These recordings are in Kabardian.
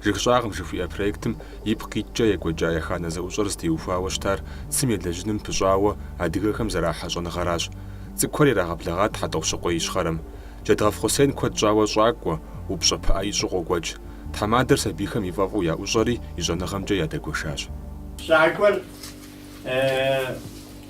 Жыг щӏагъым жыхуиӏэ проектым ипкъ иткӏэ екӏуэкӏа еханэ зэӏущӏэр зытеухуауэ щытар цым елэжьыным пыщӏауэ адыгэхэм зэрахьэ щӏэныгъэращ. Цӏыкӏухэр ирагъэблэгъат Хьэтӏохъущыкъуей Ищхъэрэм. Джэдгъэф Хъусен куэд щӏауэ щӏакӏуэ, упщӏэ пыӏэ ищӏу къокӏуэкӏ. Тхьэмадэр сабийхэм и фӏэфӏу яӏущӏэри и щӏэныгъэмкӏэ ядэгуэшащ. Щӏакӏуэр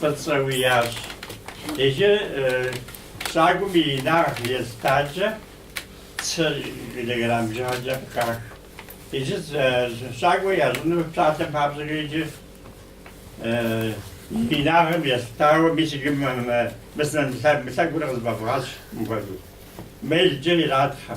фӏыцӏэу ящӏ. Иджы щӏакӏуэм и инагъ естакӏэ цы килограмм бжыгъэкӏэ къыхах. Иджы щӏакӏуэ ящӏыну псалъэм папщӏэкӏэ иджы и инагъым естауэ мис иджы мы сынэм мы лъэгур къызыфӏэвгъэщӏ мыпхуэдэу. Мелкӏэ иратхъэ.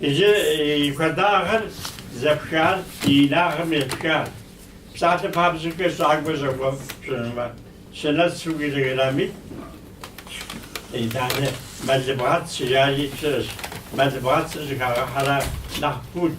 Иджы и хуэдагъыр зэпхар и инагъым епхар. Псалъэм папщӏэкӏэ щӏакӏуэ щӏэхуэфӏ пщӏынумэ, щынэцу килограммитӏ. Итӏанэ мэлыбгъэц жари щыӏэщ. Мэлыбгъэцыр щыхагъэхьэрэ нэхъ пут.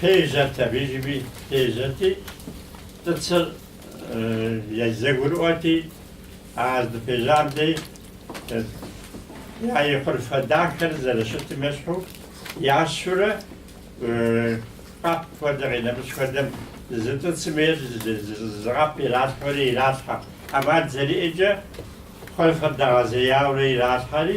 Пежьэрт абы иджы, пежьэрти, тӏыцыр зэгурыӏуэти, а здыпежьам дей и хъурфэ дахэр зэрыщытым ещхьу, ящурэ, къэп хуэдэ къинэмыщӏ хуэдэм, зы тӏыцым ейр зы къэп иралъхьэри иралъхьэ. ӏэмал зэриӏэкӏэ, хъурфэр дэгъэзеяуэрэ иралъхьэри,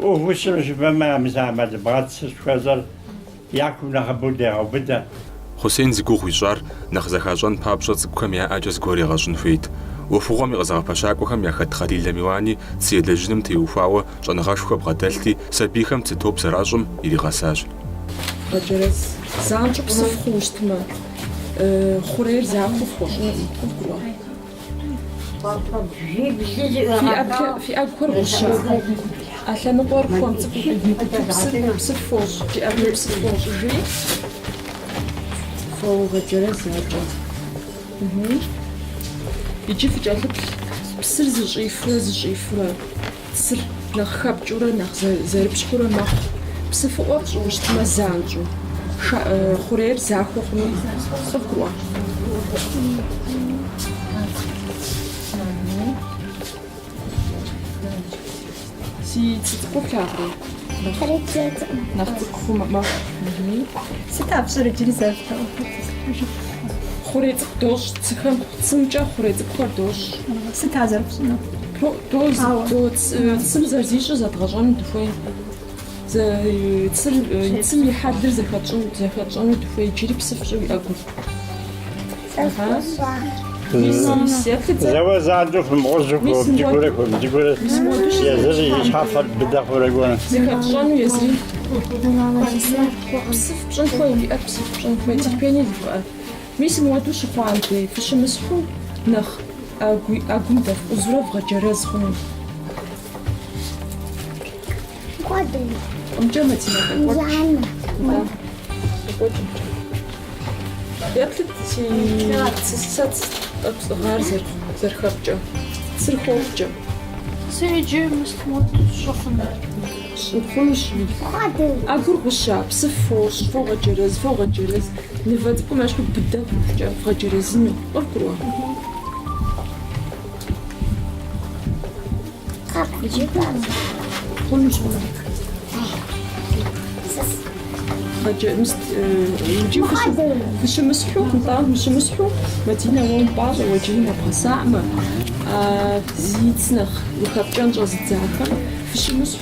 ӏуву сщӏыну жыпӏэмэ, мис а мэлыбгъэц жыхуэсӏэр я кум нэхъыбэу дегъэубыдэ. Хъусен зи гугъу ищӏар нэхъ зэхащӏэн папщӏэ цӏыкӏухэм я ӏэкӏэ зыгуэр егъэщӏын хуейт. ӏуэхугъуэм и къызэгъэпэщакӏуэхэм яхэт Хъалилэ Миланэ цы елэжьыным теухуауэ щӏэныгъэшхуэ бгъэдэлъти, сабийхэм цы топ зэращӏым иригъэсащ. Вгъэджэрэз, занщӏэу псыф хъууэ щытмэ, хъурейр захуэу пхуэщӏынукъым. Фи ӏэгухэр гъущэ. А лъэныкъуэр хуэм цӏыкӏуу псыф фощӏ, фи ӏэгур псыф фощӏыжри фогъэджэрэз. Иджы фыкӏэлъыплъ псыр зыщӏифурэ зыщӏифурэ. Псыр нэхъ хэпкӏыурэ нэхъ зэрыпщхьурэ мэхъу. Псыфыӏуэ пщӏыущтмэ занщӏэу, хъурейр захуэ хъунукъым. Цым зэрызищӏыр зэдгъэщӏэну дыхуей. Цым и хьэлыр зэхэтщӏэну дыхуей. Иджыри псыф щӏы уи ӏэгур. Зэуэ занщӏэу фымыгъуэжу хуэм цӏыкӏуурэ хуэм цӏыкӏуурэ езыри и щхьэфэр быдэ хъурэ гуэрэ. Зэхэтщӏэну езыри. Псыф пщӏын хуей, уи ӏэр псыф пщӏын хуей, терпение зыхуэӏэр. Мис мыуэду щыхъуам дей фыщымысхьу нэхъ ӏэгум дэфкъузурэ вгъэджэрэз хъуну. Къуэдым-къуэдымкӏэ Мадинэ къекӏуэкӏ. Еплъыт си сэ тӏэкӏу сӏыгъар зэрыхэпкӏэ, цыр хопкӏэ. Сэ иджы мыс мыуэду сщыхъуну. Сщыхъунущ. Ӏэгур гъуща, псыф фощӏ, фогъэджэрэз, фогъэджэрэз. Мывэ цӏыкӏум ещхьу быдэ хъукӏэ вгъэджэрэзыну къыбгурыӏуа. Къэп иджы базэ. Хъунущ, хъунущ. Вгъэджэ, мыс, иджы фыщымысхьу, нтӏэ фыщымысхьу, Мадинэ уэ умпӏащӏэ, уэ иджыри нэбгъэсаӏмэ, зи цы нэхъ ухэпкӏэн щӏэзыдзахэм, фыщымысхьу,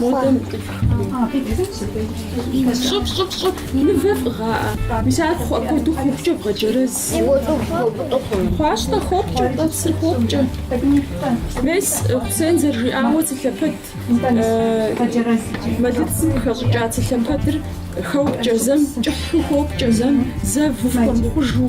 Модэ мыцӏыхури. Щӏыфӏ, щӏыфӏ, щӏыфӏ, мывэ фӏыгъаӏэ. Мис ар хъу апхуэдэу хъупкӏэ бгъэджэрэз. Хъуащ-тӏэ, хопкӏэ-тӏэ, цыр хопкӏэ. Мес, Хъусен зэрыжиӏауэ цы лъэпэд, мэлыцым хэщӏыкӏа цы лъэпэдыр хопкӏэ, зэм кӏыхьу хопкӏэ, зэм зэву фхуэмыхъужу.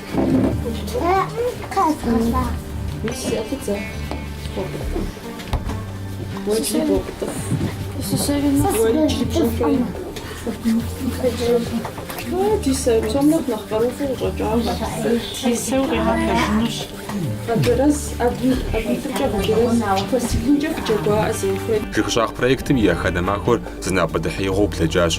Жыг щӏагъ проектым и еханэ махуэр зы напӏэдэхьеигъуэу блэкӏащ.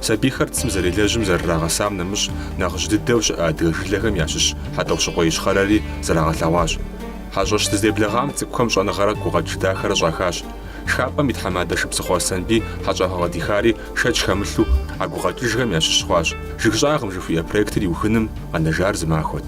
Сабийхэр цым зэрелэжьым зэрырагъэсам нэмыщӏ нэхъыжь дыдэу щыӏэ адыгэ жылэхэм ящыщ Хьэтӏохъущыкъуей Ищхъэрэри зэрагъэлъэгъуащ. Хьэщӏэщ дыздеблэгъам цӏыкӏухэм щӏэныгъэрэ гукъэкӏыж дахэрэ щӏахащ. Шхапӏэм и тхьэмадэ Шыбзыхъуэ Аслъэнбий хьэщӏагъэ къыдихари шэч хэмылъу, а гукъэкӏыжхэм ящыщ хъуащ. Жыг щӏагъым жыхуиӏэ проектыр иухыным къэнэжар зы махуэт.